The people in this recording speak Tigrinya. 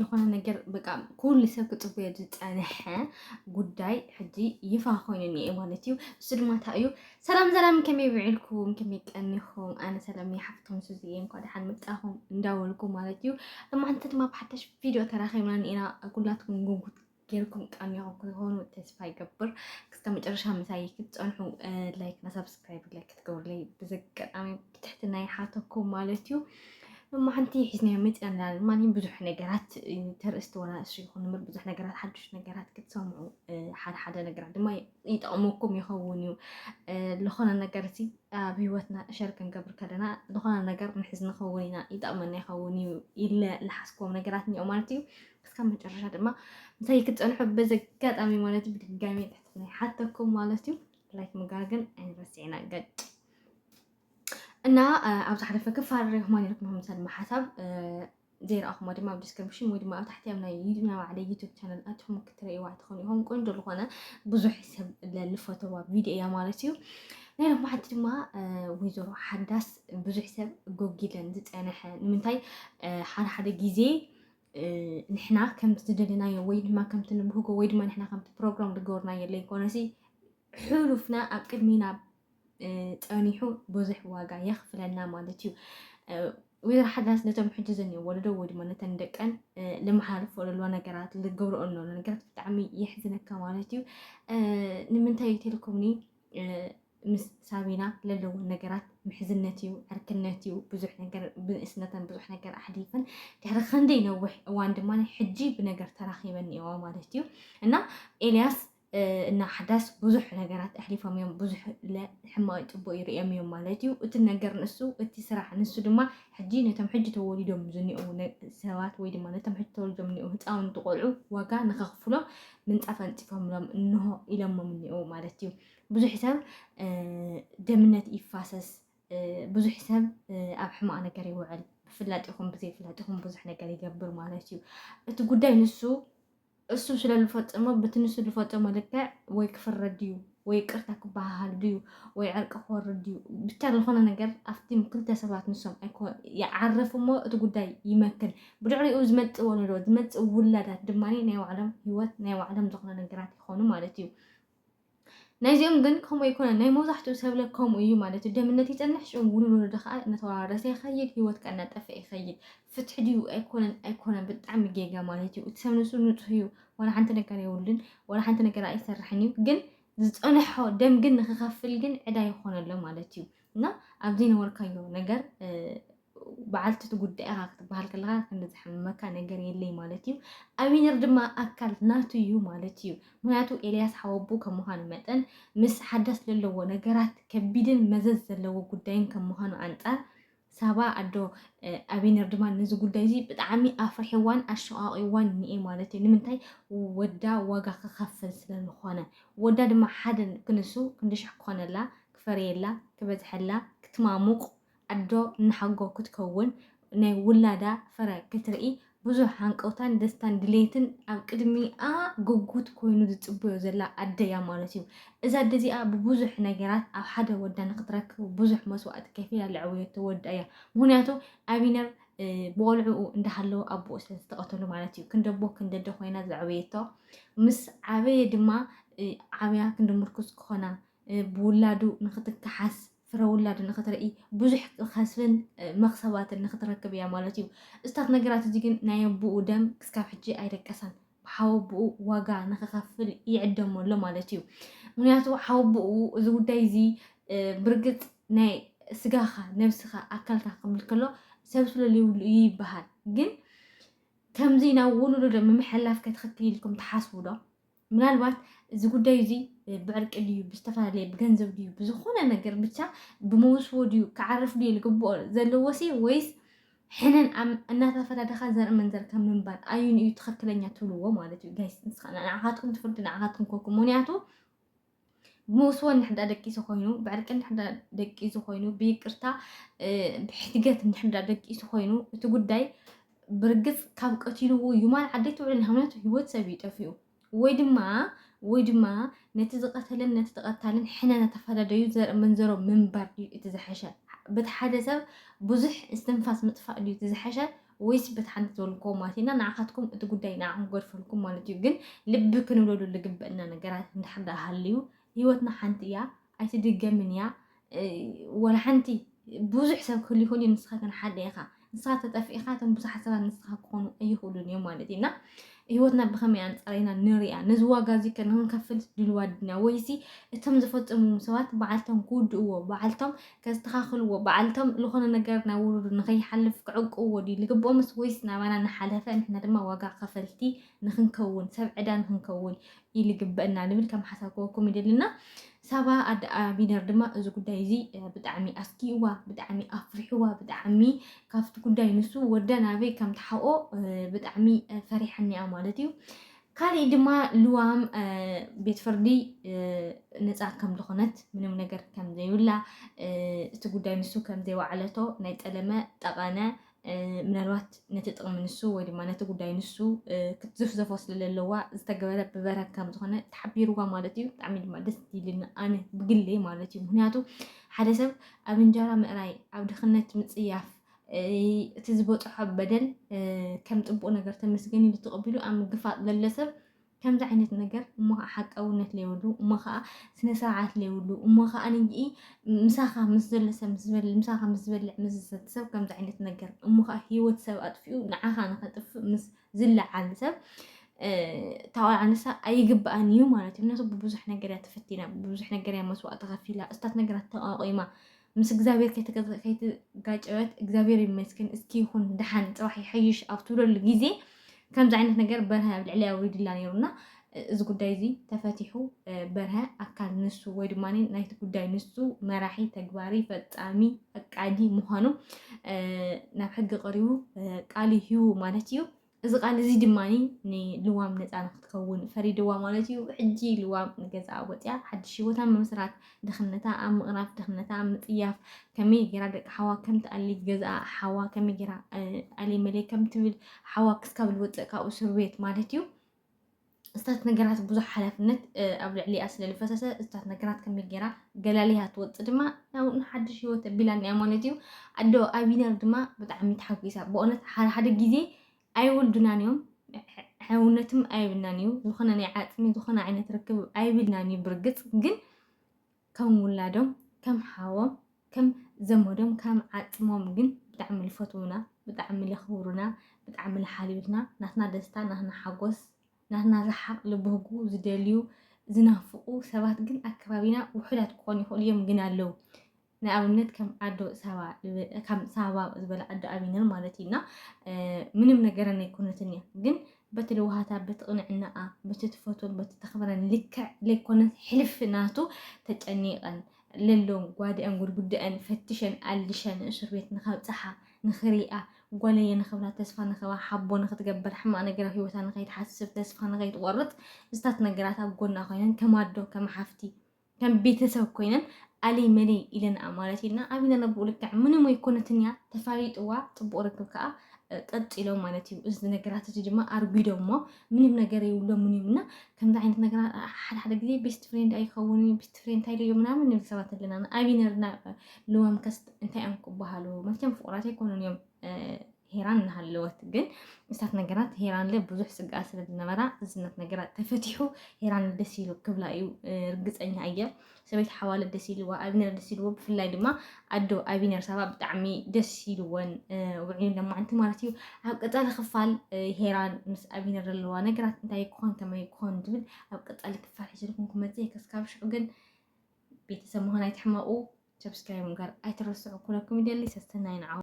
ዝኾነ ነገር በቃ ኩሉ ሰብ ክፅበዮ ዝፀንሐ ጉዳይ ሕጂ ይፋ ኮይኑ እኒኤ ማለት እዩ እሱ ድማ እንታይ እዩ ሰላም ሰላም ከመይ ውዒልኩም ከመይ ቀኒኹም ኣነ ሰላም እየ ሓፍቶም ሱዚ እየ እንኳ ደሓን መጣኹም እንዳበልኩ ማለት እዩ ሎማዓንቲ ድማ ብሓደሽ ቪድዮ ተራኺብና እኒኤና ኩላትኩም ጉጉት ጌርኩም ጠሚኹም ክኾኑ ተስፋ ይገብር ክስተ መጨረሻ ምሳይ ክትፀንሑ ላይክ እና ሰብስክራይብ ላይ ክትገብሩለይ ብዘጋጣሚ ብትሕትና ይሓተኩም ማለት እዩ እሞ ሓንቲ ሒዝናዮ መፅና ንላለን ማለት ብዙሕ ነገራት ተርእስቲ ዋላ እሱ ይኹን ምር ብዙሕ ነገራት ሓዱሽ ነገራት ክትሰምዑ ሓደ ሓደ ነገራት ድማ ይጠቕመኩም ይኸውን እዩ ዝኾነ ነገር ሲ ኣብ ሂወትና እሸር ክንገብር ከለና ዝኾነ ነገር ንሕዝ ንኸውን ኢና ይጠቕመና ይኸውን እዩ ኢለ ዝሓስክዎም ነገራት እኒኦ ማለት እዩ እስካብ መጨረሻ ድማ ምሳይ ክትፀንሑ በዚ ኣጋጣሚ ማለት እዩ ብድጋሚ ትሕትና ይሓተኩም ማለት እዩ ላይክ ምግባር ግን ኣይንረስዕና ገጭ እና ኣብ ዝሓለፈ ክፋል ሪኹማ ነርኩም ምሳል ድማ ሓሳብ ዘይረኣኹሞ ድማ ኣብ ዲስክሪፕሽን ወይ ድማ ኣብ ታሕቲ ኣብ ናይ ዩድና ባዕለ ዩቱብ ቻነል ኣትኹም ክትርእይዋ ትኾኑ ኢኹም ቆንጆ ዝኾነ ብዙሕ ሰብ ለልፈተዋ ቪድዮ እያ ማለት እዩ ናይ ሎሚ ሓንቲ ድማ ወይዘሮ ሓዳስ ብዙሕ ሰብ ጎጊለን ዝፀነሐ ንምንታይ ሓደ ሓደ ግዜ ንሕና ከምቲ ዝደለናዮ ወይ ድማ ከምቲ ንብህጎ ወይ ድማ ንሕና ከምቲ ፕሮግራም ዝገበርናዮ ዘይኮነሲ ሕሉፍና ኣብ ቅድሚና ጸኒሑ ብዙሕ ዋጋ የኽፍለና ማለት እዩ ወይዘሮ ሓዳስ ነቶም ሕጂ ዘኒኦ ወለዶ ወይ ድማ ነተን ደቀን ልመሓልፎ ዘለዋ ነገራት ልገብርኦ ዘሎ ነገራት ብጣዕሚ የሕዝነካ ማለት እዩ ንምንታይ ቴሌኮምኒ ምስ ሳቢና ለለወን ነገራት ምሕዝነት እዩ፣ ዕርክነት እዩ፣ ብዙሕ ነገር ብንእስነተን ብዙሕ ነገር ኣሕሊፈን ድሕሪ ክንደይ ነዊሕ እዋን ድማ ሕጂ ብነገር ተራኺበን እኒኦዋ ማለት እዩ እና ኤልያስ እና ሓዳስ ብዙሕ ነገራት ኣሕሊፎም እዮም ብዙሕ ሕማቅ ፅቡቅ ይርኦም እዮም ማለት እዩ እቲ ነገር ንሱ እቲ ስራሕ ንሱ ድማ ሕጂ ነቶም ሕጂ ተወሊዶም ዝኒኦው ሰባት ወይ ድማ ነቶም ሕጂ ተወሊዶም ዝኒኦው ህፃውንቲ ቆልዑ ዋጋ ንከኽፍሎም ምንፃፍ ኣንፂፎምሎም እንሆ ኢሎሞም እኒኦው ማለት እዩ ብዙሕ ሰብ ደምነት ይፋሰስ፣ ብዙሕ ሰብ ኣብ ሕማቕ ነገር ይውዕል፣ ብፍላጥ ይኹን ብዘይፍላጥ ይኹን ብዙሕ ነገር ይገብር ማለት እዩ። እቲ ጉዳይ ንሱ እሱ ስለ ዝፈፀሞ በቲ ንሱ ዝፈፀሞ ልክዕ ወይ ክፍረድ እዩ ወይ ይቅርታ ክበሃሃል ድዩ ወይ ዕርቂ ክወርድ ድዩ ብቻ ዝኾነ ነገር ኣብቲም ክልተ ሰባት ንሶም ይዓርፍ እሞ እቲ ጉዳይ ይመክን ብድዕሪኡ ዝመፅእ ወለዶ ዝመፅእ ውላዳት ድማ ናይ ባዕሎም ሂወት ናይ ባዕሎም ዝኾነ ነገራት ይኾኑ ማለት እዩ ናይዚኦም ግን ከምኡ ኣይኮነን። ናይ መብዛሕትኡ ሰብለ ከምኡ እዩ ማለት እዩ። ደምነት ይጸንሕ፣ ሽዑ ውልዶዶ ከኣ እናተወራረሰ ይኸይድ፣ ህይወት ከኣ እናጠፍአ ይኸይድ። ፍትሒ ድዩ ኣይኮነን ኣይኮነን ብጣዕሚ ጌጋ ማለት እዩ። እቲ ሰብ ንሱ ንጹህ እዩ፣ ዋላ ሓንቲ ነገር የብሉን፣ ዋላ ሓንቲ ነገር ኣይሰርሕን እዩ ግን ዝጸንሖ ደም ግን ንክኸፍል ግን ዕዳ ይኾነሎ ማለት እዩ እና ኣብ ዘይነበርካዮ ነገር በዓልቲ እቲ ጉዳይ ኢኻ ክትበሃል ከለኻ ክንዲ ዘሕምመካ ነገር የለይ ማለት እዩ ኣቢነር ድማ ኣካል ናቱ እዩ ማለት እዩ ምክንያቱ ኤልያስ ሓወቡ ከም ምዃኑ መጠን ምስ ሓዳስ ዘለዎ ነገራት ከቢድን መዘዝ ዘለዎ ጉዳይን ከም ምዃኑ ኣንጻር ሳባ ኣዶ ኣቢነር ድማ ነዚ ጉዳይ እዚ ብጣዕሚ ኣፍርሕዋን ኣሸቃቂዋን እኒኤ ማለት እዩ ንምንታይ ወዳ ዋጋ ክኸፍል ስለዝኾነ ወዳ ድማ ሓደ ክንሱ ክንዲ ሽሕ ክኾነላ ክፈርየላ ክበዝሐላ ክትማሙቅ ኣዶ ንሓጎ ክትከውን ናይ ውላዳ ፍረ ክትርኢ ብዙሕ ሃንቀውታን ደስታን ድሌትን ኣብ ቅድሚኣ ጉጉት ኮይኑ ዝጽበዮ ዘላ ኣደ እያ ማለት እዩ። እዛ ኣደ እዚኣ ብብዙሕ ነገራት ኣብ ሓደ ወዳ ንክትረክብ ብዙሕ መስዋእቲ ከፊላ ዘዕበየቶ ወዳ እያ። ምክንያቱ ኣቢነር ብቆልዑኡ እንዳሃለወ ኣቦኡ ስለ ዝተቐተሉ ማለት እዩ ክንደቦ ክንደደ ኮይና ዘዕበየቶ ምስ ዓበየ ድማ ዓብያ ክንዲ ምርኩስ ክኾና ብውላዱ ንክትከሓስ ፍረ ውላድ ንክትርኢ ብዙሕ ከስብን መክሰባትን ንክትረክብ እያ ማለት እዩ። እዝታት ነገራት እዚ ግን ናይ ኣቦኡ ደም ክስካብ ሕጂ ኣይደቀሳን። ሓው ኣቦኡ ዋጋ ንክኸፍል ይዕደሞ ኣሎ ማለት እዩ። ምክንያቱ ሓው ኣቦኡ እዚ ጉዳይ እዚ ብርግፅ ናይ ስጋኻ ነብስኻ ኣካልካ ክብል ከሎ ሰብ ስለለይብሉ እዩ ይበሃል ግን ከምዚ ናብ ወለዶ ምምሕልላፍ ከትኽክል ኢልኩም ትሓስቡ ዶ? ምናልባት እዚ ጉዳይ እዚ ብዕርቂ ድዩ ብዝተፈላለየ ብገንዘብ ድዩ ብዝኾነ ነገር ብቻ ብመውስቦ ድዩ ክዓርፍ ድዩ ልግብኦ ዘለዎ ሲ ወይስ ሕነን እናተፈዳደኻ ዘርኢ መንዘር ከም ምንባር ኣዩን እዩ ትኽክለኛ ትብልዎ ማለት እዩ ጋይስ ንስኻ ንዓኻትኩም ትፍርዱ ንዓኻትኩም ኮኩም ምክንያቱ ብመውስቦ እንድሕር ደቂሱ ኮይኑ ብዕርቂ እንድሕር ደቂሱ ኮይኑ ብይቅርታ ብሕትገት እንድሕር ደቂሱ ኮይኑ እቲ ጉዳይ ብርግፅ ካብ ቀቲልዎ ዩማን ዓደይ ትውዕል ንሃምነቱ ህይወት ሰብ ይጠፍኡ ወይ ድማ ወይ ድማ ነቲ ዝቐተለን ነቲ ተቐታልን ሕነ ተፈላለዩ ዘርኢ መንዘሮ ምንባር ድዩ እቲ ዝሐሸ በቲ ሓደ ሰብ ብዙሕ እስትንፋስ ምጥፋእ ድዩ እቲ ዝሐሸ ወይስ በቲ ሓንቲ ዝበልኩዎ ማለት ኢና ንዓኻትኩም እቲ ጉዳይ ንዓኹም ክገድፈልኩም ማለት እዩ ግን ልቢ ክንብለሉ ልግበእና ነገራት እንድሕር ደኣ ሃልዩ ህይወትና ሓንቲ እያ ኣይትድገምን እያ ወላ ሓንቲ ብዙሕ ሰብ ክህሉ ይኽእል እዩ ንስኻ ግን ሓደ ኢኻ ንስኻ ተጠፍኢኻ እቶም ብዙሓት ሰባት ንስኻ ክኾኑ ኣይኽእሉን እዮም ማለት እዩ እና ህይወትና ብኸመይ ኣንጻር ኢና ንሪኣ? ነዚ ዋጋ እዚ ከ ንኽንከፍልስ ድልዋት ድና? ወይሲ እቶም ዝፈጸምዎም ሰባት በዓልቶም ክውድእዎ፣ በዓልቶም ከስተኻኽልዎ፣ በዓልቶም ዝኾነ ነገር ናብ ውሉዱ ንኸይሓልፍ ክዕቅብዎ ድዩ ዝግብኦምስ ወይስ ናባና እናሓለፈ ንሕና ድማ ዋጋ ከፈልቲ ንኽንከውን፣ ሰብ ዕዳ ንኽንከውን ኢሉ ይግበእና ንብል ከም ሓሳብ ክወኩም ይደልና ሳባ ኣደ ኣቢነር ድማ እዚ ጉዳይ እዚ ብጣዕሚ ኣስጊእዋ ብጣዕሚ ኣፍሪሕዋ ብጣዕሚ ካብቲ ጉዳይ ንሱ ወዳ ናበይ ከም ተሓኦ ብጣዕሚ ፈሪሐኒያ ማለት እዩ ካሊእ ድማ ልዋም ቤት ፍርዲ ነፃ ከም ዝኾነት ምንም ነገር ከም ዘይብላ እቲ ጉዳይ ንሱ ከም ዘይወዓለቶ ናይ ጠለመ ጠቐነ ምናልባት ነቲ ጥቕሚ ንሱ ወይ ድማ ነቲ ጉዳይ ንሱ ክትዝፍዘፎ ስለዘለዋ ዝተገበረ ብበረክ ከም ዝኾነ ተሓቢርዋ ማለት እዩ። ብጣዕሚ ድማ ደስ ይብልኒ ኣነ ብግሌ ማለት እዩ። ምክንያቱ ሓደ ሰብ ኣብ እንጀራ ምእራይ፣ ኣብ ድኽነት ምፅያፍ እቲ ዝበፅሖ በደል ከም ፅቡቅ ነገር ተመስገን ኢሉ ተቐቢሉ ኣብ ምግፋጥ ለለ ሰብ ከምዚ ዓይነት ነገር እሞ ከኣ ሓቀውነት ለይብሉ እሞ ከኣ ስነ ስርዓት ለይብሉ እሞ ከኣ ንይ ምሳኻ ምስ ዘሎ ሰብ ምስ ዝበልዕ ምሳኻ ምስ ዝበልዕ ምስ ዝሰቲ ሰብ ከምዚ ዓይነት ነገር እሞ ከኣ ህይወት ሰብ ኣጥፊኡ ንዓኻ ንኸጥፍእ ምስ ዝለዓል ሰብ ታዋል ኣነሳ ኣይግባእን እዩ ማለት እዩ ምክንያቱ ብብዙሕ ነገር እያ ተፈቲና ብብዙሕ ነገር እያ መስዋእቲ ከፊላ እስታት ነገራት ተቋቂማ ምስ እግዚኣብሔር ከይትጋጨወት እግዚኣብሔር ይመስገን እስኪ ይኹን ድሓን ፅባሕ ይሐይሽ ኣብ ትብለሉ ግዜ ከምዚ ዓይነት ነገር በርሀ ኣብ ልዕሊ ኣውሪድላ ነይሩና እዚ ጉዳይ እዚ ተፈቲሑ በርሀ ኣካል ንሱ ወይ ድማ ናይቲ ጉዳይ ንሱ መራሒ ተግባሪ ፈፃሚ ፈቃዲ ምዃኑ ናብ ሕጊ ቀሪቡ ቃል ይህቡ ማለት እዩ እዚ ቃል እዚ ድማ ንልዋም ነፃ ንክትከውን ፈሪድዋ ማለት እዩ። ሕጂ ልዋም ንገዛኣ ወፅያ ሓድሽ ህይወት ኣብ ምምስራት፣ ድኽነታ ኣብ ምቕራፍ፣ ድኽነታ ኣብ ምፅያፍ፣ ከመይ ጌራ ደቂ ሓዋ ከም ትኣሊ፣ ገዛኣ ሓዋ ከመይ ጌራ ኣሊ መለይ ከም ትብል፣ ሓዋ ክስካብ ልወፅእ ካብኡ ስርቤት ማለት እዩ። እታት ነገራት ብዙሕ ሓላፍነት ኣብ ልዕሊኣ ስለ ዝፈሰሰ እታት ነገራት ከመይ ጌራ ገላሊያ ትወፅእ ድማ ናብ ሓድሽ ሂወት ኣቢላ እኒኣ ማለት እዩ ኣዶ ኣቢነር ድማ ብጣዕሚ ተሓጒሳ ብእውነት ሓደ ሓደ ግዜ ኣይውልዱናን እዮም ሕውነትም ኣይብልናን እዩ ዝኾነ ናይ ዓፅሚ ዝኾነ ዓይነት ርክብ ኣይብልናን እዩ ብርግፅ ግን ከም ውላዶም ከም ሓዎም ከም ዘመዶም ከም ዓጽሞም ግን ብጣዕሚ ልፈትዉና ብጣዕሚ ለኽብሩና ብጣዕሚ ልሓልዩልና ናትና ደስታ ናትና ሓጎስ ናትና ረሓቕ ልብህጉ ዝደልዩ ዝናፍቑ ሰባት ግን ኣብ ከባቢና ውሑዳት ክኾኑ ይኽእሉ እዮም ግን ኣለዉ ናይ ኣብነት ከም ኣዶ ሳባ ከም ሳባ ዝበለ ኣዶ ኣቢነር ማለት እዩና ምንም ነገረን ኣይኮነትን እያ ግን በቲ ለዋሃታ፣ በቲ ቕንዕናኣ፣ በቲ ትፈትዎን በቲ ተኽብረን ልክዕ ለይኮነስ ሕልፊ ናቱ ተጨኒቐን ለሎ ጓድኣን ጉድጉድኣን ፈትሸን ኣልሸን እሱር ቤት ንኸብጽሓ ንኽሪኣ ጓለየ ንኽብላ ተስፋ ንኽባ ሓቦ ንኽትገብር ሕማቕ ነገር ኣብ ህይወታ ንኸይትሓስብ ተስፋ ንኸይትቖርጽ ምስታት ነገራት ኣብ ጎና ኮይነን ከም ኣዶ ከም ሓፍቲ ከም ቤተሰብ ኮይነን ኣለይ መለይ ኢለንኣ ማለት ኢልና ኣብና ነብኡ ልክዕ ምንም ኣይኮነትን እያ ተፋሊጥዋ ፅቡቅ ርክብ ከዓ ቀፂሎም ማለት እዩ እዚ ነገራት እዚ ድማ ኣርጒዶም እሞ ምንም ነገር የብሎምን እዮም እና ከምዚ ዓይነት ነገር ሓደ ሓደ ግዜ ቤስት ፍሬንድ ኣይኸውን እዩ ቤስት ፍሬንድ እንታይ ድዮ ምናምን ንብል ሰባት ኣለና ኣቢነርና ልዋም ከስት እንታይ እዮም ክበሃሉ መቸም ፍቁራት ኣይኮኑን እዮም ሄራን እናሃለወት ግን ምስታት ነገራት ሄራንለ ብዙሕ ስግኣት ስለ ዝነበራ ዝነት ነገራት ተፈቲሑ ሄራን ደስ ኢሉ ክብላ እዩ ርግፀኛ እየ ሰበይቲ ሓዋለ ደስ ኢልዋ ኣቢነር ደስ ኢልዎ ብፍላይ ድማ ኣዶ ኣቢነር ሳባ ብጣዕሚ ደስ ኢልወን ውዕዩ ለማዕንቲ ማለት እዩ ኣብ ቀፃሊ ክፋል ሄራን ምስ ኣቢነር ዘለዋ ነገራት እንታይ ክኾን ከመይ ክኾን ዝብል ኣብ ቀፃሊ ክፋል ሒዘልኩም ክመፅ ከስካብ ሽዑ ግን ቤተሰብ ምዃን ኣይትሕመቑ ሰብስክራይብ ምጋር ኣይትረስዑ ኩለኩም ይደሊ ሰስተናይን ዓው